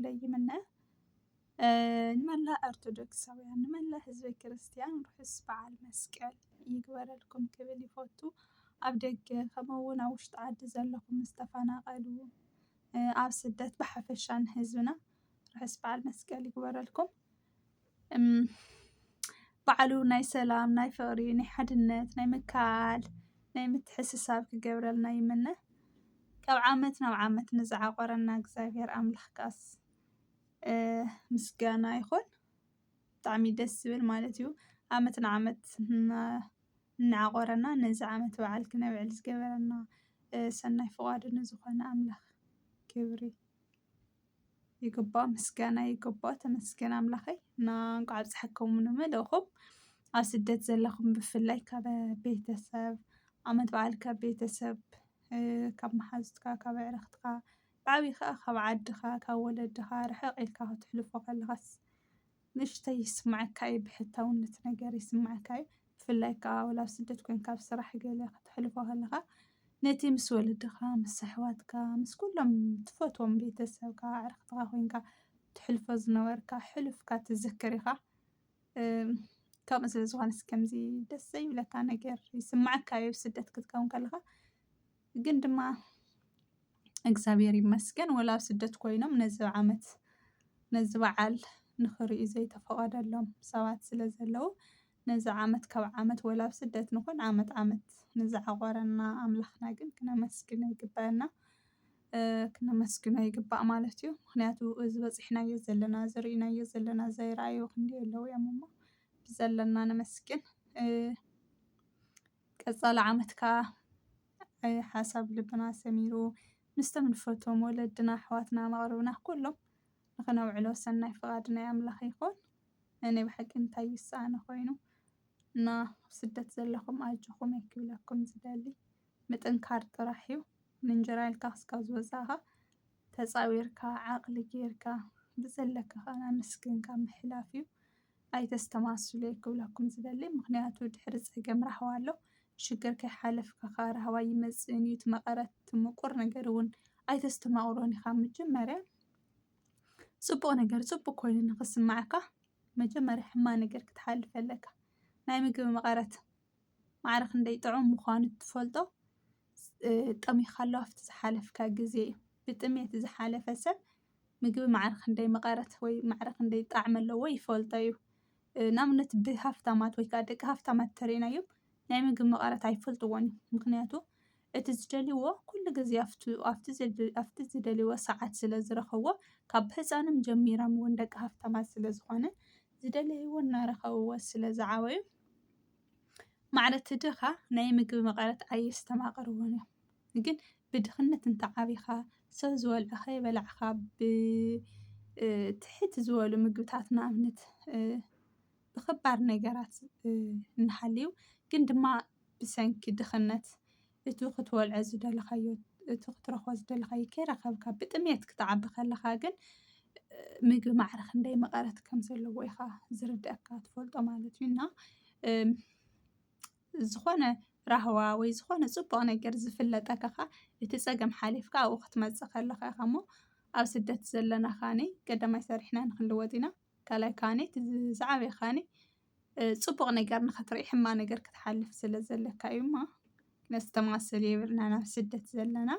ክብለይ ይምነ። ንመላእ ኦርቶዶክሳውያን ንመላእ ህዝበ ክርስትያን ርሑስ በዓል መስቀል ይግበረልኩም ክብል ይፈቱ። ኣብ ደገ ከምኡ እውን ኣብ ውሽጢ ዓዲ ዘለኹም ዝተፈናቐሉ ኣብ ስደት ብሓፈሻ ንህዝብና ርሑስ በዓል መስቀል ይግበረልኩም። ባዕሉ ናይ ሰላም ናይ ፍቅሪ ናይ ሓድነት ናይ ምክእኣል ናይ ምትሕስሳብ ክገብረልና ይምነ ካብ ዓመት ናብ ዓመት ንዝዓቆረና እግዚኣብሔር ኣምላክ ክኣስ ምስጋና ይኩን ብጣዕሚ ደስ ዝብል ማለት እዩ ዓመት ንዓመት እናዓቆረና ነዚ ዓመት በዓል ክነብዕል ዝገበረና ሰናይ ፍቃዱ ንዝኮነ ኣምላክ ክብሪ ይግባእ ምስጋና ይግባእ ተመስገን ኣምላኸይ እና እንኳዕ ኣብፀሐኩም ንመደኹም ኣብ ስደት ዘለኹም ብፍላይ ካብ ቤተሰብ ዓመት በዓል ካብ ቤተሰብ ካብ መሓዙትካ ካብ ኣዕርኽትኻ ብዓብይ ኸዓ ካብ ዓድኻ ካብ ወለድኻ ርሕቕ ኢልካ ከተሕልፎ ከለኻስ ንእሽተይ ይስምዓካ ዩ ብሕታውነት ነገር ይስምዓካ ዩ ብፍላይ ክኣ ወላ ኣብ ስደት ኮንካ ኣብ ስራሕ ገለ ከተሕልፎ ከለካ ነቲ ምስ ወለድኻ ምስ ኣሕዋትካ ምስ ኩሎም ትፈትዎም ቤተሰብካ ኣዕርክትኻ ኮንካ ትሕልፎ ዝነበርካ ሕሉፍካ ትዝክር ኢኻ ከምኡ ስለ ዝኾነስ ከምዚ ደስ ዘይብለካ ነገር ይስምዓካ ዩ ኣብ ስደት ክትከውን ከለኻ። ግን ድማ እግዚኣብሔር ይመስገን ወላ ኣብ ስደት ኮይኖም ነዚ ዓመት ነዚ በዓል ንኽርእዩ ዘይተፈቐደሎም ሰባት ስለ ዘለዉ ነዚ ዓመት ካብ ዓመት ወላ ኣብ ስደት ንኹን ዓመት ዓመት ንዝዓቖረና ኣምላኽና ግን ክነመስግኖ ይግበአና ክነመስግኖ ይግባእ ማለት እዩ። ምኽንያቱ እዚ በፂሕናዮ ዘለና እዚ ርኢናዮ ዘለና ዘይረኣዩ ክንደይ ኣለዉ እዮም እሞ ብዘለና ነመስግን። ቀፃሊ ዓመት ከዓ ሓሳብ ልብና ሰሚሩ ምስቶም ንፈትዎም ወለድና ኣሕዋትና መቕርብና ኩሎም ንኽነውዕሎ ሰናይ ፍቓድ ናይ ኣምላኽ ይኹን። ናይ ብሓቂ እንታይ እዩ ዝሰኣነ ኮይኑ እና ኣብ ስደት ዘለኹም ኣጆኹም እየ ክብለኩም ዝደሊ ምጥንካር ጥራሕ እዩ ንእንጀራ ኢልካ ክስካብ ዝወፃእኻ ተፃዊርካ ዓቕሊ ጌርካ ብዘለካ ከዓ ኣመስግንካ ምሕላፍ እዩ ኣይተስተማስሉ'የ ክብለኩም ዝደሊ ምኽንያቱ ድሕሪ ጸገም ራህዋ ኣሎ ሽግር ከይሓለፍካ ከኣ ራህዋ ኣይመጽእን'ዩ እቲ መቐረት እቲ ምቁር ነገር እውን ኣይተስተማቕሮን ኢኻ መጀመርያ ጽቡቕ ነገር ጽቡቕ ኮይኑ ንኽስማዓካ መጀመርያ ሕማቕ ነገር ክትሓልፍ ኣለካ ናይ ምግቢ መቐረት ማዕረ ክንደይ ጥዑም ምዃኑ እትፈልጦ ጠሚኻ ኣሎ ኣብቲ ዝሓለፍካ ግዜ እዩ ብጥሜት ዝሓለፈ ሰብ ምግቢ ማዕረ ክንደይ መቐረት ወይ ማዕረ ክንደይ ጣዕሚ ኣለዎ ይፈልጦ እዩ። ንኣብነት ብሃፍታማት ወይ ከዓ ደቂ ሃፍታማት እንተሪእናዮም ናይ ምግቢ መቐረት ኣይፈልጥዎን እዮም። ምኽንያቱ እቲ ዝደልይዎ ኩሉ ግዜ ኣፍቱ ኣፍቲ ዘድ ኣፍቲ ዝደልይዎ ሰዓት ስለ ዝረኽብዎ ካብ ህፃኖም ጀሚሮም እውን ደቂ ሃፍታማት ስለ ዝኾነ ዝደለይዎ እናረኸብዎ ስለ ዝዓበዩ ማዕረ እቲ ድኻ ናይ ምግቢ መቐረት ኣየስተማቕርዎን እዮም። ግን ብድኽነት እንተ ዓቢኻ ሰብ ዝበልዖ ከይበላዕካ ብ ትሕት ዝበሉ ምግብታት ንኣብነት ብኸባድ ነገራት እንሃልዩ ግን ድማ ብሰንኪ ድኽነት እቱ ክትበልዖ ዝደለኻዮ እቱ ክትረኽቦ ዝደለኻዮ ከይረኸብካ ብጥምየት ክትዓቢ ከለኻ ግን ምግቢ ማዕረ ክንደይ መቐረት ከም ዘለዎ ኢኻ ዝርድኣካ ትፈልጦ ማለት እዩ እና ዝኾነ ራህዋ ወይ ዝኾነ ጽቡቕ ነገር ዝፍለጠካ ከኣ እቲ ጸገም ሓሊፍካ ኣብኡ ክትመጽእ ከለኻ ኢኻ እሞ ኣብ ስደት ዘለና ካኒ ቀዳማይ ሰሪሕና ንክንልወጥ ኢና ካልኣይ ካኒ እቲ ዝዓበየ ካኒ ጽቡቕ ነገር ንኽትርኢ ሕማቕ ነገር ክትሓልፍ ስለ ዘለካ እዩ እሞ ነስተማስል የብልናን ኣብ ስደት ዘለና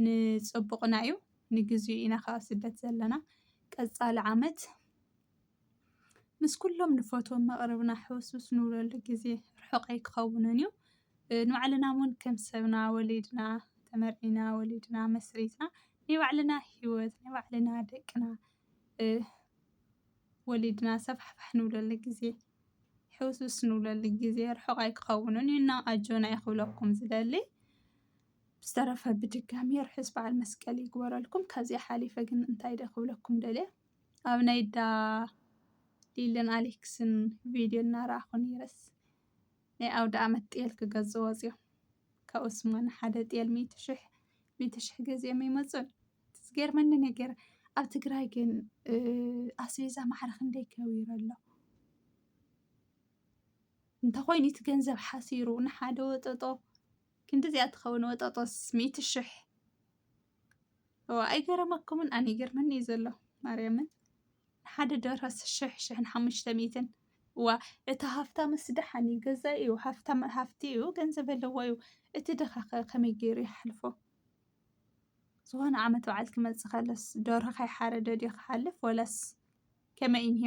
ንጽቡቕና እዩ ንግዚኡ ኢና ካብ ስደት ዘለና ቀጻሊ ዓመት ምስ ኩሎም ንፈትዎም መቕርብና ሕውስውስ ንብለሉ ግዜ ርሑቕ ኣይክኸውንን እዩ። ንባዕልና እውን ከም ሰብና ወሊድና፣ ተመርዒና፣ ወሊድና፣ መስሪትና ናይ ባዕልና ህይወት፣ ናይ ባዕልና ደቅና ወሊድና ሰፋሕፋሕ ንብለሉ ግዜ፣ ሕውስውስ ንብለሉ ግዜ ርሑቕ ኣይክኸውንን እዩ እና ኣጆና እየ ክብለኩም ዝደሊ። ብዝተረፈ ብድጋሚ ርሑስ በዓል መስቀል ይግበረልኩም። ካብዚኣ ሓሊፈ ግን እንታይ ድኣ ክብለኩም ደልየ? ኣብ ናይ ዳ ሊልን ኣሌክስን ቪድዮ እናረኣኹ ነይረስ ናይ ኣውደ ኣመት ጤል ክገዝ ወፅዮም ካብ ኡስማን ሓደ ጤል ሚእቲ ሽሕ ሚእቲ ሽሕ ገዚኦም ይመፁን ዝገርመኒ ነገር ኣብ ትግራይ ግን ኣስቤዛ ማዕረ ክንደይ ከቢሩ ኣሎ እንተኾይኑ እቲ ገንዘብ ሓሲሩ ንሓደ ወጠጦ ክንዲዚኣ ትኸውን ወጠጦስ ሚእቲ ሽሕ ኣይገረመኩምን ኣነ ይገርመኒ እዩ ዘሎ ማርያምን ሓደ ደርሆ ሽሕ ሽሕን ሓሙሽተ ሚእትን እዋ እቲ ሃፍታምስ ደሓን እዩ ገዛ እዩ ሃፍታም ሃፍቲ እዩ ገንዘብ ኣለዎ እዩ እቲ ድኻ ከ ከመይ ገይሩ ይሓልፎ ዝኾነ ዓመት በዓል ክመፅእ ከለስ ደርሆ ከይሓረደ ድዩ ክሓልፍ ወላስ ከመይ እንሄ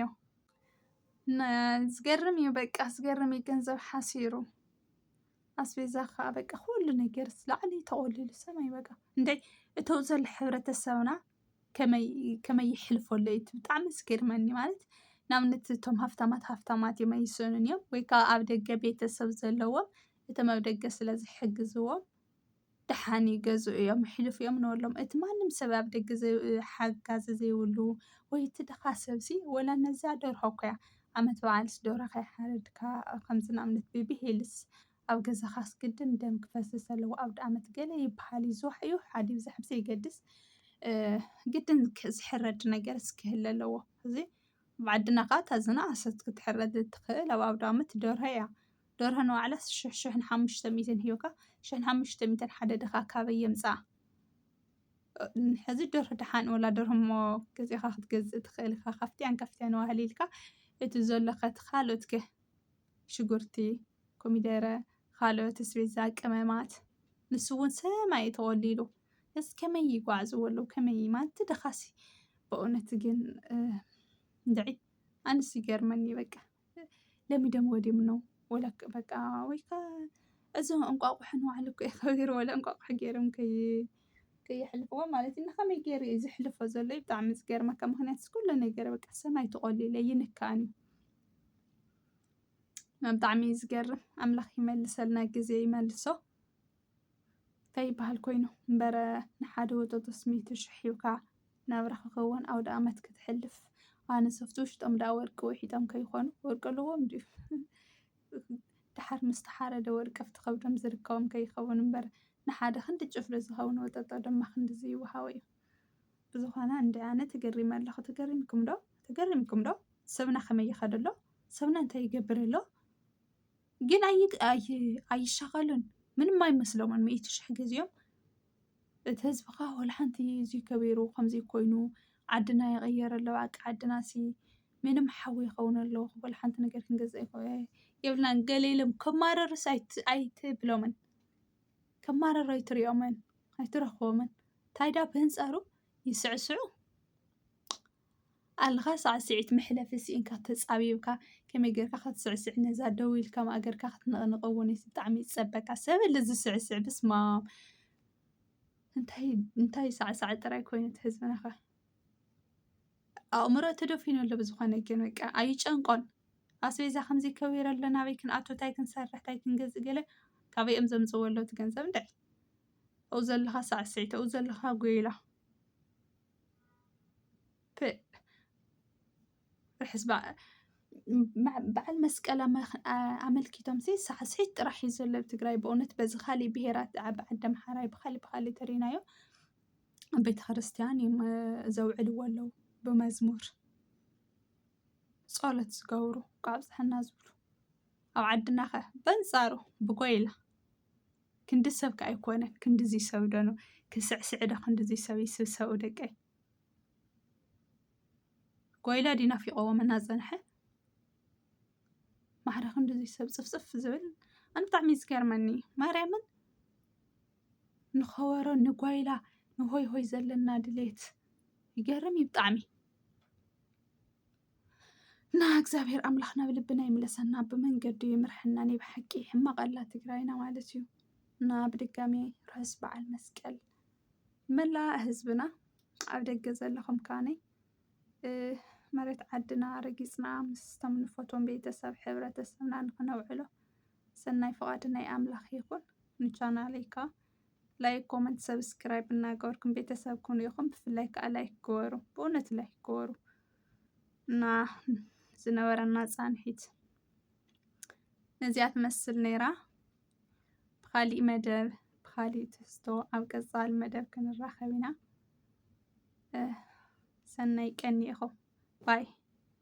ዝገርም እዩ በቃ ዝገርም እዩ ገንዘብ ሓሲሩ ኣስቤዛ ከዓ በቃ ኩሉ ነገርስ ላዕሊ ተቆሊሉ ሰማይ በቃ እንታይ እተው ዘሎ ሕብረተሰብና ከመይ ይሕልፈሉ እዩ ብጣዕሚ ዝገርመኒ ማለት ንኣብነት እቶም ሃፍታማት ሃፍታማት እዮም ኣይሰኑን እዮም ወይ ከዓ ኣብ ደገ ቤተሰብ ዘለዎም እቶም ኣብ ደገ ስለ ዝሕግዝዎም ደሓን እዩ ገዝኡ እዮም ሕሉፍ እዮም ንበሎም እቲ ማንም ሰብ ኣብ ደገ ሓጋዚ ዘይብሉ ወይ እቲ ድኻ ሰብሲ ወላ ነዛ ደርሆ እኮ እያ ዓመት በዓልስ ደርሆ ከይሓረድካ ከምዚ ንኣብነት ብብሄልስ ኣብ ገዛኻስ ግድን ደም ክፈስስ ኣለዎ ኣብ ደኣመት ገለ ይበሃል እዩ ዝዋሕ ይውሕ ዓዲ ይብዛሕ ብዘይገድስ ግድን ዝሕረድ ነገርስ ክህለ ኣለዎ እዚ ኣብ ዓድና ከዓ እታ ዝነኣሰት ክትሕረድ እትኽእል ኣብ ኣውደኣመት ደርሆ እያ። ደርሆ ንባዕላስ ሽሕ ሽሕን ሓሙሽተ ሚእትን ሂብካ ሽሕን ሓሙሽተ ሚእትን ሓደ ድኻ ካበይ የምፅኣ ሕዚ ደርሆ ደሓን ወላ ደርሆ እሞ ገዚእኻ ክትገዝእ ትኽእል ኢኻ ካፍትያን ካፍትያን ዋህል ኢልካ እቲ ዘሎ ከቲ ካልኦት ከ ሽጉርቲ ኮሚደረ ካልኦት ስቤዛ ቅመማት ንሱ እውን ሰማይ እዩ ተቖሊሉ እዚ ከመይ ይጓዕዝዎ ኣለዉ ከመይ ማለት ድኻሲ በእውነት ግን እንድዒ ኣንስ ይገርመኒ በቃ ለሚዶምዎ ድዮም እኖ ወላ በቃ ወይ ከ እዚ እንቋቑሖ ንባዕሉ እኮ እዩ ከቢሩ ወላ እንቋቑሖ ገይሮም ከይ ከየሕልፍዎ ማለት እዩ ንኸመይ ገይሩ እዩ ዝሕልፎ ዘሎ እዩ ብጣዕሚ ዝገርመካ ምክንያቱ ኩሉ ነገር በቃ ሰማይ ተቖሊለ ይንካእን እዩ ብጣዕሚ እዩ ዝገርም ኣምላኽ ይመልሰልና ግዜ ይመልሶ ከይበሃል ኮይኑ እምበረ ንሓደ ወጠጦስ ሚእቲ ሽሕ ሂብካ ናብራ ክከወን ኣውደኣመት ክትሕልፍ ኣነ ሶፍቲ ውሽጦም ደኣ ወርቂ ውሒጦም ከይኮኑ ወርቂ ኣለዎም ድዩ ደሓር ምስ ተሓረደ ወርቂ ኣብቲ ከብዶም ዝርከቦም ከይከውን እምበር ንሓደ ክንዲ ጭፍሪ ዝኸውን ወጠጦ ድማ ክንድዚ ይወሃቦ እዩ ብዝኾነ እንደ ኣነ ተገሪመ ኣለኹ ተገሪምኩም ዶ ተገሪምኩም ዶ ሰብና ከመይ ይኸደሎ ሰብና እንታይ ይገብር ኣሎ ግን ኣይሻኸሉን ምንም ኣይመስሎምን ሚእቲ ሽሕ ጊዜኦም እቲ ህዝቢ ከ ዋላ ሓንቲ እዙይ ገቢሩ ከምዙይ ኮይኑ ዓድና ይቅየር ኣሎ በቃ ዓድና እሲ ምንም ሓዊ ይከውን ኣሎ ዋላ ሓንቲ ነገር ክንገዝእ የብልናን ገለ ኢሎም ከማርሩስ ኣይትብሎምን ከማርሩ ኣይትሪኦምን ኣይትረክቦምን እንታይ ድኣ ብኣንፃሩ ይስዕስዑ። ኣለኻ ሳዕሲዒት መሕለፊ ሲኢንካ ተጻቢብካ ከመይ ጌርካ ክትስዕስዕ ነዛ ደው ኢልካ ማእገርካ ክትንቕንቕ እውን እቲ ብጣዕሚ ይጸበካ ሰብ ኣለ ዝስዕስዕ ብስማም እንታይ እንታይ ሳዕሳዕ ጥራይ ኮይኑ እቲ ህዝብናኸ ኣእምሮ ተደፊኑ ኣሎ ብዝኾነ ግን በቃ ኣይጨንቆን ኣስቤዛ ከምዚ ከቢር ኣሎ ናበይ ክንኣቱ እንታይ ክንሰርሕ እንታይ ክንገዝእ ገለ ካበይ እዮም ዘምፅዎ ኣለዉ እቲ ገንዘብ እንታይ ኣብኡ ዘለኻ ሳዕስዒት ኣብኡ ዘለኻ ጎይላ ፕእ ርሕስ በዓል መስቀል ኣመልኪቶምሲ ሳዕስዒት ጥራሕ እዩ ዘሎ ኣብ ትግራይ ብእውነት በዚ ካሊእ ብሄራት ዓዲ ኣምሓራይ ብካሊእ ብካሊእ ተሪእናዮ ኣብ ቤተክርስትያን እዮም ዘውዕልዎ ኣለዉ ብመዝሙር ፆሎት ዝገብሩ ካብ ዝብሉ ኣብ ዓድና ከ በንፃሩ ብጎይላ ክንዲ ሰብ ከ ኣይኮነን ክንድዚ ሰብ ዶ ነው ክስዕስዕ ዶ ክንድዚ ሰብ ይስብሰቡ ደቀይ ጓይላ ድዩ ናፊቆዎም እናፀንሐ ማዕረ ክንድዚ ሰብ ፅፍፅፍ ዝብል ኣነ ብጣዕሚ እዩ ዝገርመኒ ማርያምን ንኸበሮ ንጓይላ ንሆይ ሆይ ዘለና ድሌት ይገርም እዩ ብጣዕሚ ና እግዚኣብሔር ኣምላኽ ናብ ልብና ይምለሰና ብመንገዱ ይምርሐና ናይ ብሓቂ ሕማቕ ኣላ ትግራይና ማለት እዩ እና ብድጋሚ ርሑስ በዓል መስቀል መላእ ህዝብና ኣብ ደገ ዘለኹም ካነ መሬት ዓድና ረጊፅና ምስቶም ንፈቶም ቤተሰብ ሕብረተሰብና ንክነውዕሎ ሰናይ ፍቓድ ናይ ኣምላኽ ይኹን ንቻናለይካ ላይክ ኮመንት ሰብስክራይብ እናገበርኩም ቤተሰብ ኩኑ ኢኹም ብፍላይ ከዓ ላይክ ግበሩ ብእውነት ላይክ ግበሩ እና ዝነበረና ፃንሒት ነዚኣ ትመስል ነይራ። ብኻሊእ መደብ ብኻሊእ ትሕዝቶ ኣብ ቀፃሊ መደብ ክንራኸብ ኢና። ሰናይ ቀን ይኹን ባይ